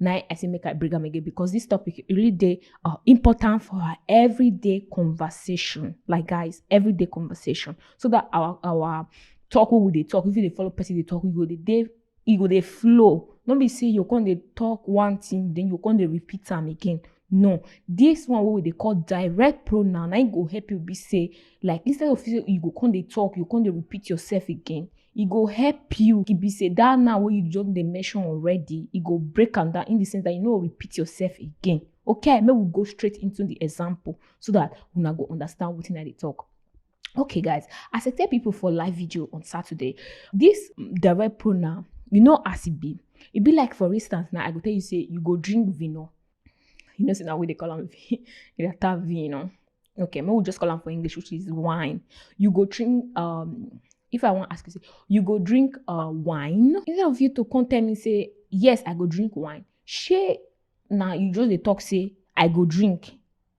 Now I say make I bring them again because this topic really day uh, important for our everyday conversation. Like guys, everyday conversation. So that our our talk what would they talk? If you they follow person they talk, you go they they you go they flow. Don't be say you can they talk one thing, then you can they repeat them again. No, this one what they call direct pronoun. I go help you be say like instead of you go can they talk, you can they repeat yourself again. e go help you e be say that now wey you just dey mention already e go break am down in the sense that you no go repeat yourself again okay make we go straight into the example so that una go understand wetin i dey talk okay guys as i tell people for live video on saturday this direct pronoun you know as e be e be like for instance now i go tell you say you go drink vino You know, see now we they call them Irata vino. Okay, maybe we'll just call them for English, which is wine. You go drink um if I want to ask you, say, you go drink uh wine. Instead of you to come tell me, say, yes, I go drink wine. She now you just the talk say, I go drink.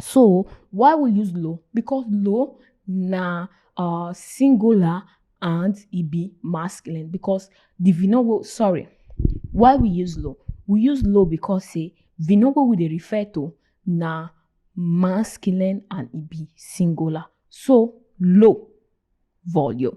So why we use lo? Because lo na uh, singular and e be masculine because the vinowo sorry why we use lo? We use lo because say vinowo we dey refer to na masculine and e be singular. So lo volume.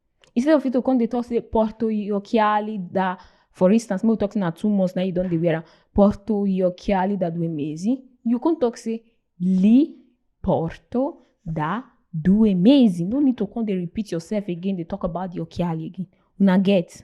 instead of you to come dey talk say porto yokiali da for instance make we talk say na two months na you don dey wear am porto yokiali da due mesi you come talk say li porto da due mesi no need to come dey repeat yourself again dey talk about the yokiali again una get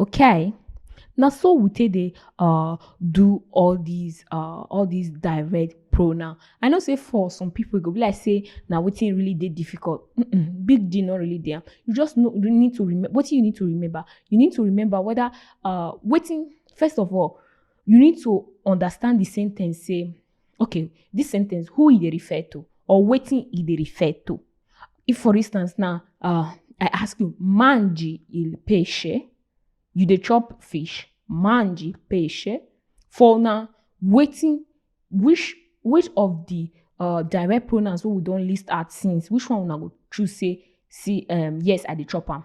Okay, na so we take dey um do all dis um all dis direct pronoun. I know sey for some pipu e go be like sey na wetin really dey difficult um big deal no really dey am. You just know you need to remember wetin you need to remember, you need to remember whether um wetin first of all you need to understand de sen ten ce sey okay this sentence who e dey refer to or wetin e dey refer to if for instance now uh, i ask you mangi il pesce you dey chop fish mangi pesce for na wetin which which of the uh, direct pronouns wey we don list out since which one una go choose say see um, yes i dey chop am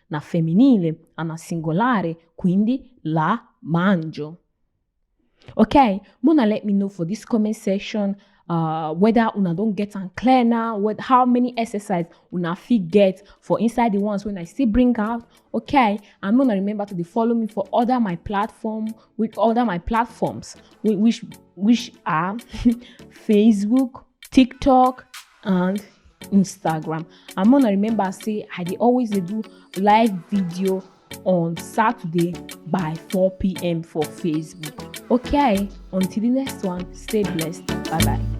na femminile, a na singolare, quindi la mangio. Ok, Mona let me know for this comment section uh, whether una don get am clear now, what, how many exercise una fit get for inside the ones when I still bring out. Okay, and Mona remember to dey follow me for other my platform with other my platforms which which are Facebook, TikTok, and instagram and mona remember say i dey always dey do live video on saturday by 4pm for facebook okay until the next one stay blessed bye bye